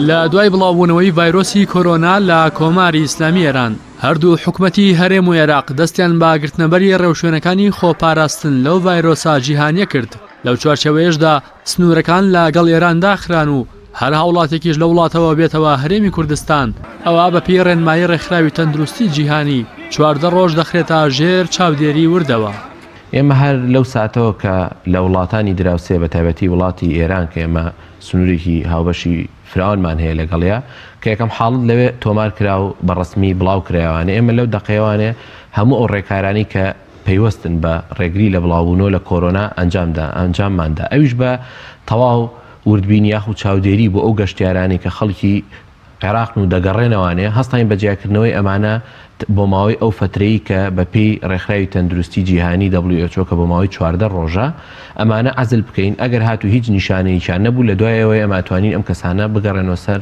لە دوای بڵاوبوونەوەی ڤایرۆسی کۆرۆنا لە کۆماری ئیسلامی ئێران هەردوو حکومەتی هەرێم و عێراق دەستیان بە گرتنەبەری ڕێوشوێنەکانی خۆپاراستن لەو ڤایرۆسا جیهانیە کرد لەو چوارچەوەیەشدا سنوورەکان لەگەڵ ئێران داخران و هەر هاوڵاتێکیش لە وڵاتەوە بێتەوە هەرێمی کوردستان ئەوە بەپی ڕێنمایی ڕێکخراوی تەندروستی جیهانی چواردە ڕۆژ دەخرێتە ژێر چاودێری وردەوە. ئێمە هەر لەو ساتەوە کە لە وڵاتانی دراوسێ بە تایبەتی وڵاتی ئێران کە ئێمە سنوورێکی هاوبەشی فراوانمان هەیە لەگەڵیا کە یەکەم حاڵت لەوێ تۆمار کرا و بە ڕسمی بڵاو کرایوانێ ئێمە لەو دەقەیەوانێ هەموو ئەو ڕێکارانی کە پەیوەستن بە ڕێگری لە بڵاوبوونەوە لە کۆرۆنا ئەنجامدا ئەنجامماندا ئەویش بە تەواو وردبینی یاخود چاودێری بۆ ئەو گەشتیارانی کە خەڵکی عێراقن و دەگەڕێنەوانێ، هەستاین بە جیاکردنەوەی ئەمانە بۆ ماوەی ئەو فەترەی کە بە پێی رێکخراوی تەندروستی جیهانی WHO کە بۆ ماوەی چواردە رۆژە، ئەمانە عەزل بکەین، ئەگەر هاتوو هیچ نیشانەیەکیان نەبوو لە دوای ئەوەی ئەمە ئەتوانین ئەم کەسانە بگەڕێنەوە سەر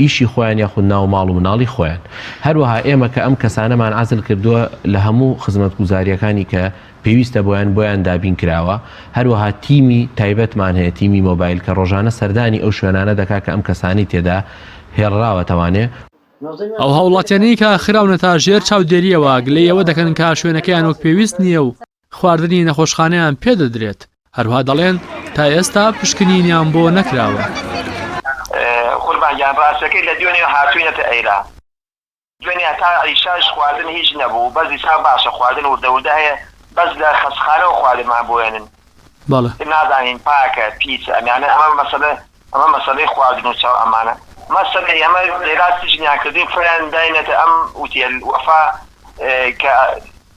ئیشی خۆیان یاخود ناو ماڵ و مناڵی خۆیان. هەروەها ئێمە کە ئەم کەسانەمان عەزل کردووە لە هەموو خزمەتگوزارییەکانی کە پێویستە بۆیان بۆیان دابین کراوە، هەروەها تیمی تایبەتمان هەیە تیمی مۆبایل کە ڕۆژانە سەردانی ئەو شوێنانە دەکا کە ئەم کەسانی تێدا هێڵراوەتەوانێ. ئەو هاوڵاتیانەی کە خراونەتە ژێر چاودێریەوە گلەی ئەوە دەکەن کە شوێنەکەیان وەک پێویست نییە و خواردنی نەخۆشخانەیان پێ دەدرێت، هەروها دەڵێن تا ئێستا پشکنینیان بۆ نەکراوە. دوێنێ هەتا عیشاش خواردن هیچ نەبوو بەس ئیسا باشە خواردن وردە وردە هەیە بەس لە خەستخانەوە خواردنمان بۆێنن بەڵێ. نازانین پاکە پیسە ئەمیانە ئەمە مەسەلە ئەمە مەسەلەی خواردن و چاو ئەمانە مەسەلەی ئەمە لێرا سجنیان کردین فریان داینەتە ئەم ئوتێل وەفا کە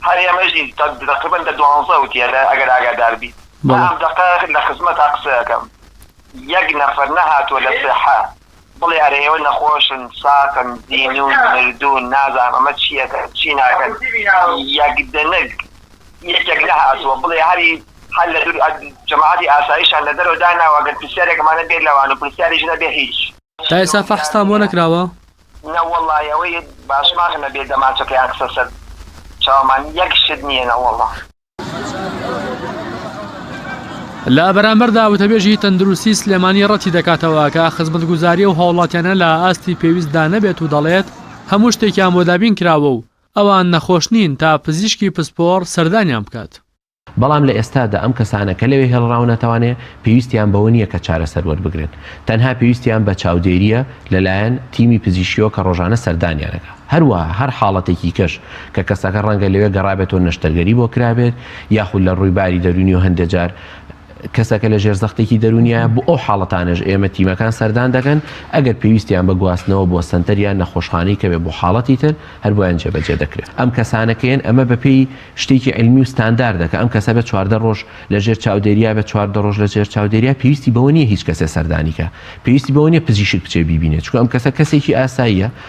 هەر ئێمەژی تقریبا دە دوانزە ئوتێلە ئەگەر ئاگادار بی ئەم دەقە لە خزمەتا قسەکەم یەک نەفەر نەهاتوە لە سحە بڵێ ئەرێ ئێوە نەخۆشن ساقن زینون مردون نازانم ئەمە چیەکەن چی ناکەن یەک دنگ یەکێک نەهاتووە بڵێ هەری هەر لە دوور جەماعەتی ئاسایشان لە دەرەوە داناوە گەر پرسیارێکمان نەبێت لەوان و پرسیاریش نەبێ هیچ تا ئێستا فەحستان بۆ نەکراوە؟ نەوەڵا ئەوەی باشماخ نەبێ دەمانچەکەیان خستە سەر چاومان یەک شت نیە نەوەڵا. لە بەرامبەردا وتەبێژی تەندروستی سلێمانی ڕەتی دەکاتەوە کە خزمەتگوزاری و هاوڵاتیانە لە ئاستی پێویستدا نەبێت و دەڵێت هەموو شتێکیان بۆ دابین کراوە و ئەوان نەخۆش نین تا پزیشکی پسپۆڕ سەردانیان بکات. بەڵام لە ئێستادا ئەم کەسانە کە لەوێ هێڵراونەتەوانێ پێویستیان بەوە نییە کە چارەسەر وەربگرن، تەنها پێویستیان بە چاودێرییە لەلایەن تیمی پزیشکیەوە کە ڕۆژانە سەردانیان ئەکا. هەروەها هەر حاڵەتێکی کەش کە کەسەکە ڕەنگە لەوێ گەڕابێتەوە نەشتەرگەری بۆ کرابێت یاخود لە ڕووی باری دەروونی و هەندێ جار کەسەکە لە ژێر زەختێکی دەروونیایە بۆ ئەو حاڵەتانەش ئێمە تیمەکان سەردان دەکەن ئەگەر پێویستیان بە گواستنەوە بۆ سەنتەر یان نەخۆشخانەی کەوێ بۆ حاڵەتی تر هەر بۆیان جێبەجێ دەکرێت ئەم کەسانە کێن ئەمە بەپێی شتێکی علمی و ستانداردە کە ئەم کەسە بێت چواردە ڕۆژ لە ژێر چاودێریە بێت چواردە ڕۆژ لە ژێر چاودێریە پێویستی بەوە نییە هیچ کەسێ سەردانیکە پێویستی بەوە نییە پزیشک بچێ بیبینێت چونکە ئەم کەسە کەسێکی ئاساییە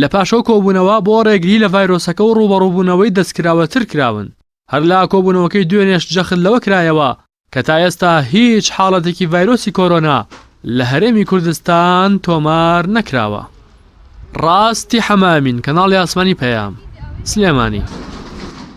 لە پاش ئەو کۆبوونەوە بۆ ڕێگری لە ڤایرۆسەکە و ڕووبەڕووبوونەوەی دەستکراوەتر کراون، هەر لە کۆبوونەوەکەی دوێنێش جەخت لەوە کرایەوە کە تا ئێستا هیچ حاڵەتێکی ڤایرۆسی کۆرۆنا لە هەرێمی کوردستان تۆمار نەکراوە. ڕاستی حەمەئەمین، کەناڵی ئاسمانی پەیام، سلێمانی.